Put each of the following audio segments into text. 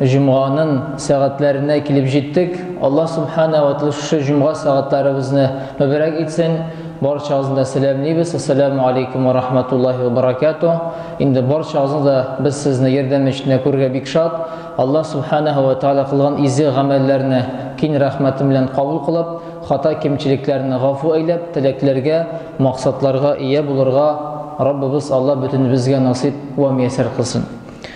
Җомганың сәгатьләренә килеп җиттек. Аллаһ Субхана ва Тәгалә шушы җомга сәгатьләребезне мөбарәк итсен. Барчагызны да сәламлибез. Ассаламу алейкум ва рахматуллаһи ва баракату. Инде барчагызны да без сезне ярдәм эчендә күрергә бик шат. Аллаһ Субхана ва Тәгалә кылган изге гамәлләрне кин рәхмәте белән кабул кылып, хата кимчелекләрне гафу әйләп, теләкләргә, максатларга ия булырга Раббыбыз Аллаһ бөтенебезгә насыйп ва мияссәр кылсын.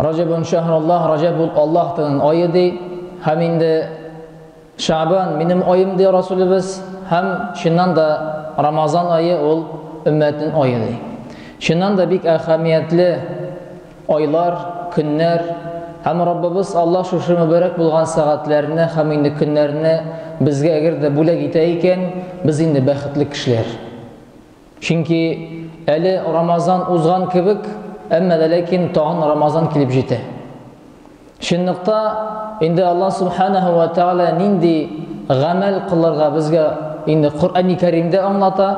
Раҗәбун шәһруллаһ, Раҗәб ул Аллаһтың ае ди, һәм инде Шәгъбан минем аем ди Расулебез, һәм чыннан да Рамазан ае ул өммәтнең ае ди. Чыннан да бик әһәмиятле айлар, көннәр, һәм Раббыбыз Аллаһ шушы мөбарәк булган сәгатьләрне һәм инде көннәрне безгә әгәр дә бүләк итә икән, без инде бәхетле кешеләр. Чөнки әле Рамазан узган кебек, әмма дә ләкин тагын Рамазан килеп җитә. Чынлыкта инде Аллаһ Субханаһу ва Тәгалә нинди гамәл кылырга безгә инде Коръәни Кәримдә аңлата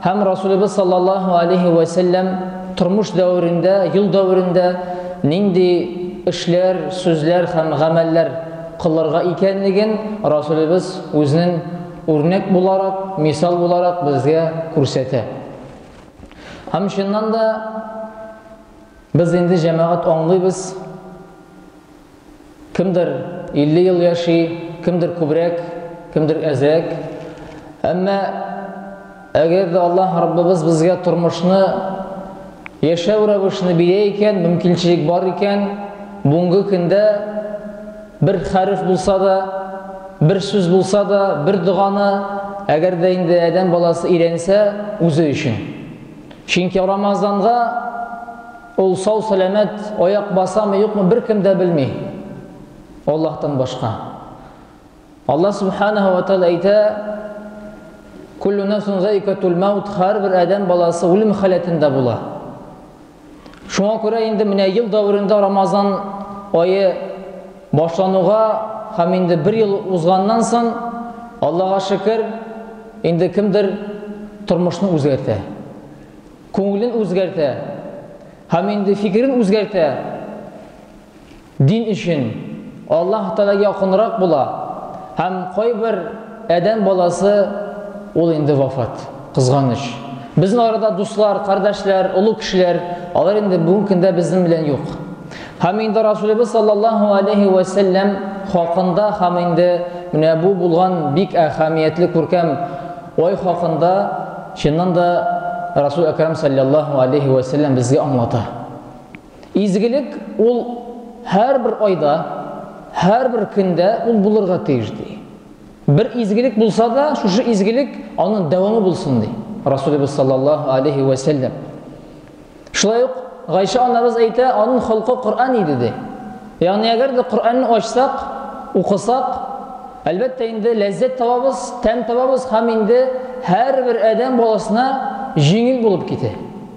һәм Расулыбыз саллаллаһу алейһи ва сәлләм тормыш дәверендә, юл дәверендә нинди эшләр, сүзләр һәм гамәлләр кылырга икәнлеген Расулыбыз үзенең Үрнәк буларак, мисал буларак безгә күрсәтә. Һәм чыннан да без инде җәмәгать аңлыйбыз. Кемдер 50 ел яши, кемдер күбрәк, кемдер әзрәк. Әмма Әгәр дә Аллаһ Раббыбыз безгә тормышны, яшәү рәвешне бирә икән, мөмкинчелек бар икән, бүгенге көндә бер хәреф булса да, бер сүз булса да, бер доганы, әгәр дә инде адәм баласы өйрәнсә, үзе өчен. Чөнки Рамазанга ул сау-сәламәт аяк басамы, юкмы, беркем дә белми. Аллаһтан башка. Аллаһ Субханаһу ва Тәгалә әйтә, Куллу нафсун зайкатул маут, һәрбер адәм баласы үлем халәтендә була. Шуңа күрә инде менә ел дәверендә Рамазан ае башлануга һәм инде бер ел узганнан соң, Аллаһка шөкер, инде кемдер тормышны үзгәртә. Күңелен үзгәртә. Һәм инде фикерен үзгәртә. Дин өчен Аллаһ Тәгаләгә якынрак була һәм кайбер адәм баласы ул инде вафат, кызганыч. Безнең арада дуслар, кардәшләр, олы кешеләр, алар инде бүген көндә безнең белән юк. Һәм инде Расулебез саллаллаһу алейһи вә сәлләм хакында һәм инде менә бу булган бик әһәмиятле күркәм ай хакында чыннан да Расул Әкрам саллаллаһу алейһи вә сәлләм безгә аңлата. Изгелек ул һәрбер айда, һәрбер көндә ул булырга тиеш, ди. Бер изгелек булса да, шушы изгелек аның дәвамы булсын, ди Расулебез саллаллаһу алейхи вә сәлләм. Шулай ук Гайша анабыз әйтә, аның холкы Коръән иде, ди. Ягъни әгәр дә Коръәнне ачсак, укысак, әлбәттә инде ләззәт табабыз, тәм табабыз һәм инде һәрбер адәм баласына җиңел булып китә.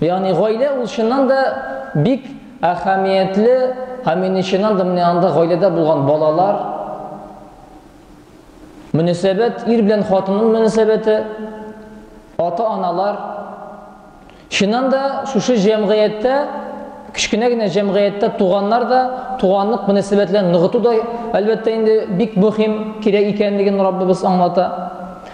Ягъни гаилә ул чыннан да бик әһәмиятле һәм мин чыннан да менә анда гаиләдә булган балалар мөнәсәбәт ир белән хатынның мөнәсәбәте ата-аналар чыннан да шушы җәмгыятьтә кечкенә генә җәмгыятьтә туганнар да туганлык мөнәсәбәтләрен ныгыту да әлбәттә инде бик мөһим кирәк икәнлеген Раббыбыз аңлата.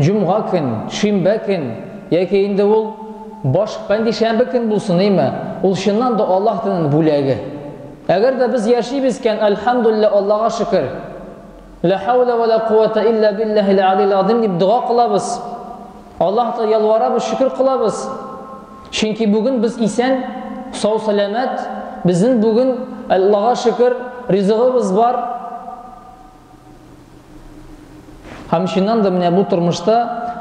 Җомга көн, шимбә көн, яки инде ул баш пәнҗешәмбе көн булсын, име, ул чыннан да Аллаһ диненең бүләге. Әгәр дә без яшибез икән, әлхәмдүлилләһ, Аллага шөкер. Лә хәүлә вә лә куәтә илля билләһил алиил азыйм дип дога кылабыз. Аллаһка ялварабыз, шөкер кылабыз. Чөнки бүген без исән, сау-сәламәт, безнең бүген, Аллага шөкер, ризыгыбыз бар. Һәм чыннан да менә бу тормышта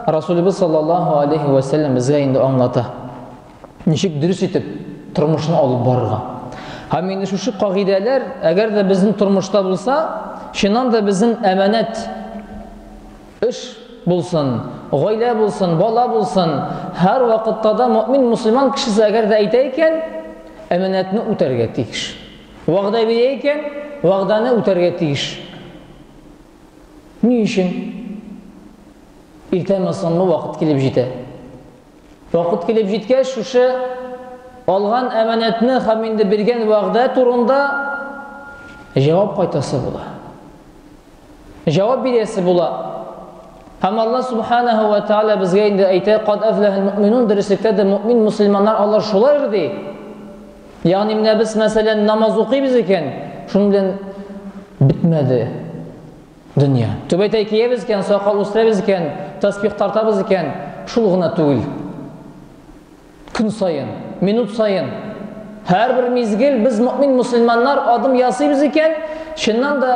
Расулыбыз саллаллаху алейхи ва саллям безгә инде аңлата. Ничек дөрес итеп тормышны алып барырга. Һәм инде шушы кагыйдәләр, әгәр дә безнең тормышта булса, чыннан да безнең әманәт эш булсын, гаилә булсын, бала булсын, һәр вакытта да мөмин мусульман кешесе әгәр дә әйтә икән, әманәтне үтәргә тиеш. Вәгъдә бирә икән, вәгъдәне үтәргә тиеш. Ни өчен? Иртәме-соңмы вакыт килеп җитә. Вакыт килеп җиткәч, шушы алган әманәтне һәм инде биргән вәгъдә турында җавап кайтасы була. Җавап бирәсе була. Һәм Аллаһ Субханаһу ва Тааля безгә инде әйтә, "Кад афлахал муъминун" дөреслектә дә муъмин мусульманнар алар шулар ди. Ягъни менә без мәсәлән намаз укыйбыз икән, шуның белән бетмәде. Дөнья. Түбәтәй киябез икән, сакал үстерәбез икән, таспих тартабыз икән, шул гына түгел. Көн саен, минут саен, һәрбер мизгел без мөэмин мөселманнар адым ясыйбыз икән, чыннан да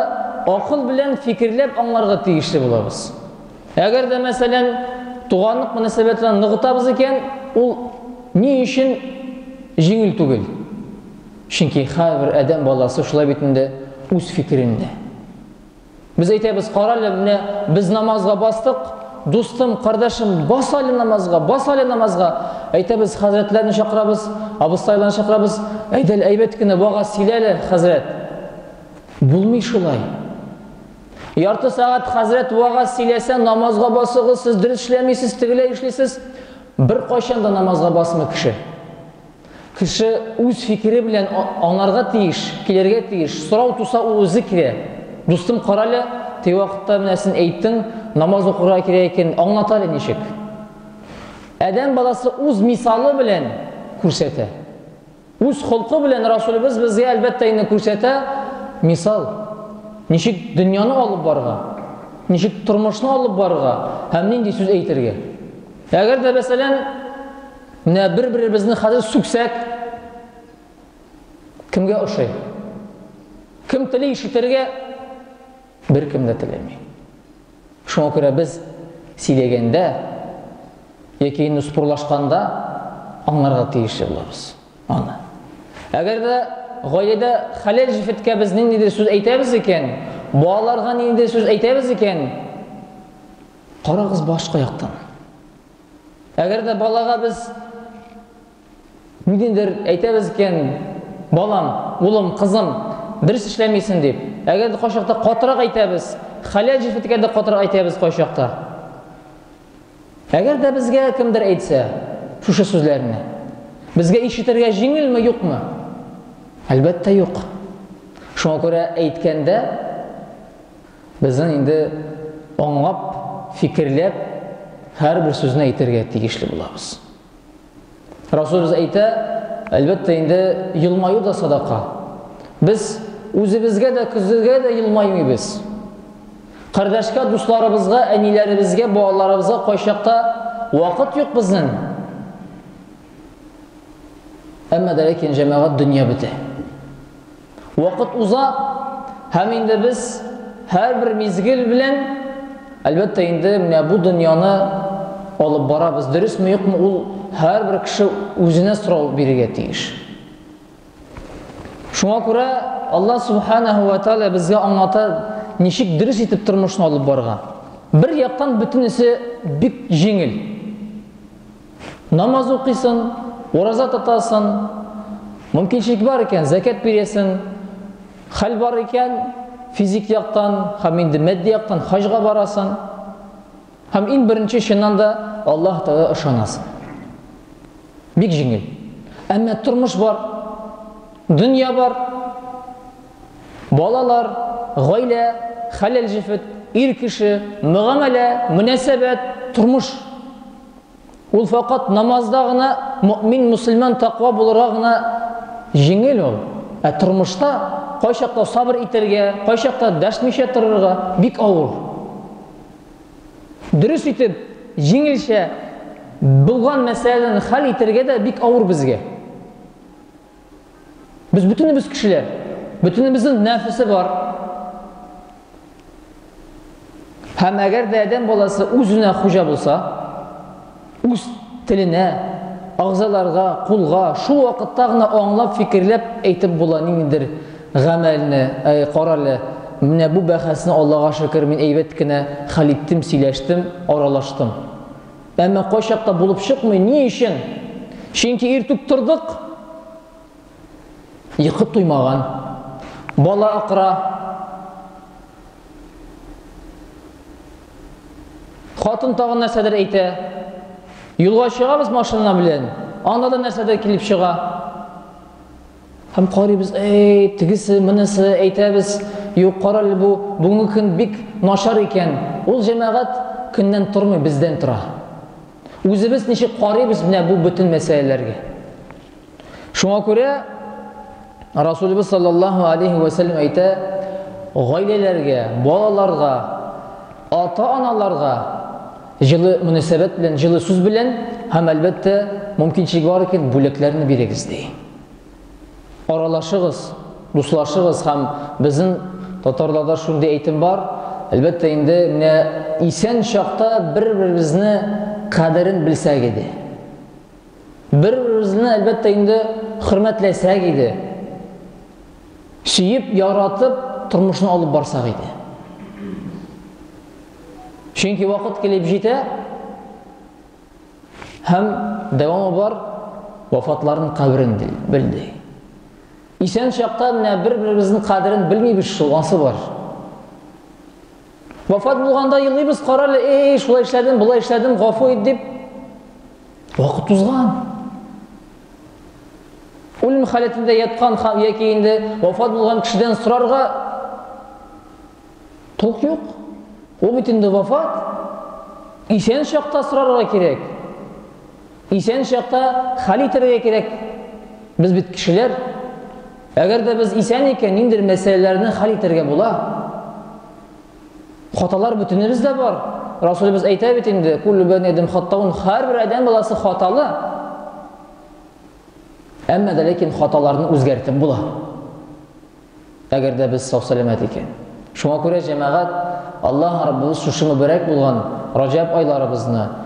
акыл белән фикерләп аңларга тиешле булабыз. Әгәр дә, мәсәлән, туганлык мөнәсәбәтләрен ныгытабыз икән, ул ни өчен җиңел түгел? Чөнки һәрбер адәм баласы шулай бит инде үз фикерендә. Без әйтәбез, карале, менә без намазга бастык, дустым, кардәшем, бас әле намазга, бас әле намазга. Әйтәбез, хәзрәтләрне чакырабыз, абыстайларны чакырабыз. Әйдәл, әйбәт кенә вага сөйләле, хәзрәт. Булмый шулай. Ярты сәгать хәзрәт вага сөйләсә, намазга басыгыз, сез дөрес эшләмисез, тегеләй эшлисез. Бер кайчан да намазга басмый кеше. Кеше үз фикере белән аңарга тиеш, килергә тиеш. Сорау туса, ул үзе килә. Дустым, карале, теге вакытта менә син әйттең, намаз укырга кирәк икән, аңлат әле ничек? Адәм баласы үз мисалы белән күрсәтә. Үз холкы белән Расулыбыз безгә әлбәттә инде күрсәтә мисал. Ничек дөньяны алып барга? Ничек тормышны алып барга? Һәм нинди сүз әйтергә? Әгәр дә мәсәлән Менә бер-беребезне хәзер сүксәк, кемгә ошый? Кем тели ишетергә? Беркем дә теләми. Шуңа күрә без сөйләгәндә яки инде спорлашканда аңларга тиеш булабыз аны. Әгәр дә гаиләдә хәләл җефеткә без ниндидер сүз әйтәбез икән, балаларга ниндидер сүз әйтәбез икән, карагыз башка яктан. Әгәр дә балага без ниндидер әйтәбез икән, балам, улым, кызым, дөрес эшләмисең дип. Әгәр дә кайчакта катырак әйтәбез, хәләл җеф иткәндә катырак әйтәбез кайчакта. Әгәр дә безгә кемдер әйтсә шушы сүзләрне, безгә ишетергә җиңелме, юкмы? Әлбәттә, юк. Шуңа күрә әйткәндә Безнең инде аңлап, фикерләп, һәрбер сүзне әйтергә тиешле булабыз. Расулыбыз әйтә, әлбәттә инде елмаю да садака. Без үзебезгә дә, көзгә дә елмаймыйбыз. Кардәшкә, дусларыбызга, әниләребезгә, балаларыбызга кайчакта вакыт юк безнең. Әмма дә ләкин җәмәгать дөнья бетә. Вакыт уза, һәм инде без һәрбер мизгел белән, әлбәттә, инде менә бу дөньяны алып барабыз. Дөресме, юкмы, ул һәрбер кеше үзенә сорау бирергә тиеш. Шуңа күрә Аллаһ субханаһу ва тааля безгә аңлата, ничек дөрес итеп тормышны алып барырга. Бер яктан бөтенесе бик җиңел. Намаз укыйсын, ураза тотасын, мөмкинчелек бар икән, зәкәт бирәсен, хәл бар икән, физик яктан һәм инде мәдди яктан хаҗга барасын. Һәм иң беренче чыннан да Аллаһ Тәгалә ышанасың. Бик җиңел. Әмма тормыш бар, дөнья бар, балалар, гаилә, хәләл җефет, ир кеше, мөгамәлә, мөнәсәбәт, тормыш. Ул факат намазда гына мөэмин, мөселман, таква булырга гына җиңел ул. Ә тормышта кайчакта сабыр итәргә, кайчакта дәшмичә торырга бик авыр. Дөрес итеп, җиңелчә булган мәсьәләләрне хәл итәргә дә бик авыр безгә. Без бөтенебез кешеләр. Бөтенебезнең нәфесе бар. Һәм әгәр дә адәм баласы үзенә хуҗа булса, үз теленә, агзаларга, кулга шул вакытта гына аңлап, фикерләп әйтеп була ниндидер гамәлне, әй, карале, менә бу бәхәсне Аллага шөкер, мин әйбәт кенә хәл иттем, сөйләштем, аралаштым. Әмма кайчакта булып чыкмый. Ни өчен? Чөнки иртүк тордык. Йокы туймаган. Бала акыра. Хатын тагын нәрсәдер әйтә. Юлга чыгабыз машина белән. Анда да нәрсәдер килеп чыга. Һәм карыйбыз, әй, тегесе, монысы, әйтәбез, юк, карале бу, бүгенге көн бик начар икән. Ул җәмәгать көннән тормый, бездән тора. Үзебез ничек карыйбыз менә бу бөтен мәсьәләләргә. Шуңа күрә Расулыбыз саллаллаһу алейхи ва саллям әйтә, гаиләләргә, балаларга, ата-аналарга Җылы мөнәсәбәт белән, җылы сүз белән һәм, әлбәттә, мөмкинчелек бар икән, бүләкләрне бирегез, ди. Аралашыгыз, дуслашыгыз һәм безнең татарларда шундый әйтем бар, әлбәттә, инде менә исән чакта бер-беребезне кадерен белсәк иде. Бер-беребезне, әлбәттә, инде хөрмәтләсәк иде. Сөеп, яратып, тормышны алып барсак иде. Чөнки вакыт килеп җитә, һәм дәвамы бар, вафатларын каберен белде. Исән чакта менә бер-беребезнең кадерен белмибез шул, ансы бар. Вафат булганда елыйбыз, карале, эй, шулай эшләдем, болай эшләдем, гафу ит дип. Вакыт узган. Үлем халәтендә яткан һәм яки инде вафат булган кешедән сорарга тук юк. Ул бит инде вафат. Исән чакта сорарга кирәк. Исән чакта хәл итәргә кирәк. Без бит кешеләр. Әгәр дә без исән икән, ниндер мәсьәләләрне хәл итәргә була. Хаталар бөтенебез дә бар. Расулыбыз әйтә бит инде, куллу бәни адәм хаттаун, һәрбер адәм баласы хаталы. Әмма дә ләкин хаталарны үзгәртеп була. Әгәр дә без сау-сәламәт икән. Шуңа күрә җәмәгать Аллаһ Раббыбыз шушы мөбарәк булган Раҗаб айларыбызны